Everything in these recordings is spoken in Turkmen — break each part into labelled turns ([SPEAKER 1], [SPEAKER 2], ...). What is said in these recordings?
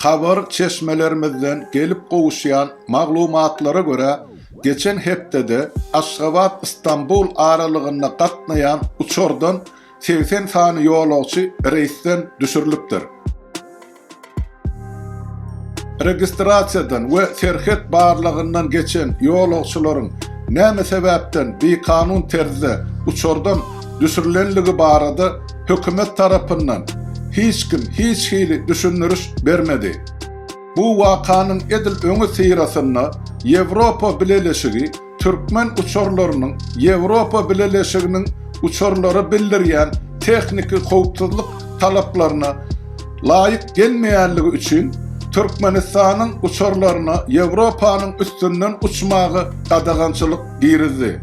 [SPEAKER 1] Habar çeşmelerimizden gelip gowuşýan maglumatlara görä, geçen hepdede Aşgabat-Stambul aralygynda gatnaýan uçardan segsen sany ýolagçy reýsden düşürilipdir. Registrasiýadan we serhet barlagyndan geçen ýolagçylaryň näme sebäpden bikanun terzde uçardan düşürilenligi barada hökümet tarapyndan hiç kim hiç hili düşündiriş bermedi. Bu wakanyň edil öňüsyrasynda Ýewropa Bileleşigi türkmen uçarlarynyň Ýewropa Bileleşiginiň uçarlara bildirýän tehniki howpsuzlyk talaplaryna laýyk gelmeýänligi üçin Türkmenistanyň uçarlaryna Ýewropanyň üstünden uçmaga gadagançylyk girizdi.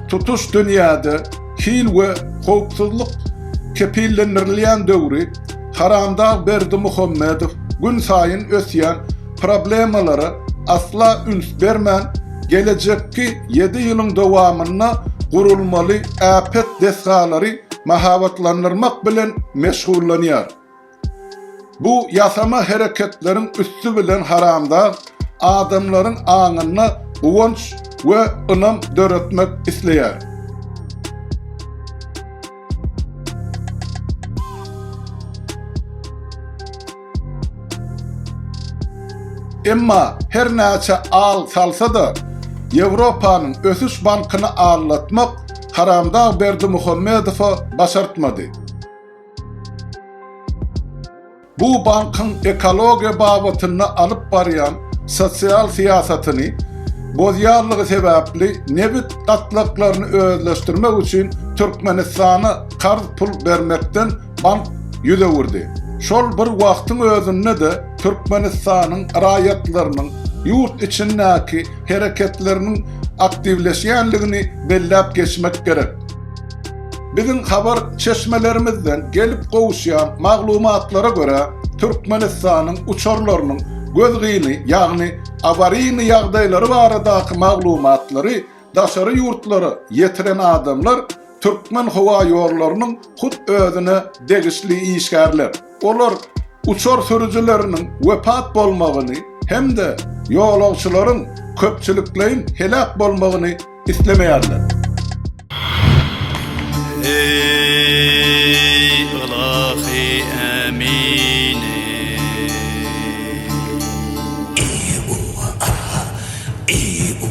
[SPEAKER 1] Tutuş dünýäde hil we howpsuzlyk kepillendirilýän döwri Haramdag Berdimuhamedow gün saýyn ösýän problemalara asla üns bermän, gelejekki ýedi ýylyň dowamynda gurulmaly äpet desgalary mahabatlandyrmak bilen meşgullanýar. Bu ýasama hereketleriň üsti bilen haramdag adamlaryň aňynda guwanç we ynam döretmek isleýär. Emma her näçe al salsa-da, Ýewropanyň ösüş bankyny allatmak haramdag Berdimuhamedowa başartmady. Bu bankyň ekologiýa babatynda alyp barýan sosial syýasatyny bozýarlygy sebäpli nebit gatlaklaryny özleşdirmek üçin Türkmenistana karz pul bermekden bank ýüz öwürdi. Şol bir wagtyň özünde-de Türkmenistanyň raýatlarynyň ýurt içindäki hereketleriniň aktiwleşýänligini belläp geçmek gerek. Biziň habar çeşmelerimizden gelip gowuşýan maglumatlara görä, Türkmenistanyň uçarlarynyň gözgyny, ýagny awariýny ýagdaýlary baradaky maglumatlary daşary ýurtlara ýetiren adamlar Türkmenhowaýollarynyň hut özüne degişli işgärler. Olar uçar sürüjileriniň wepat bolmagyny hem-de ýolagçylaryň köpçülikleýin heläk bolmagyny islemeýärler.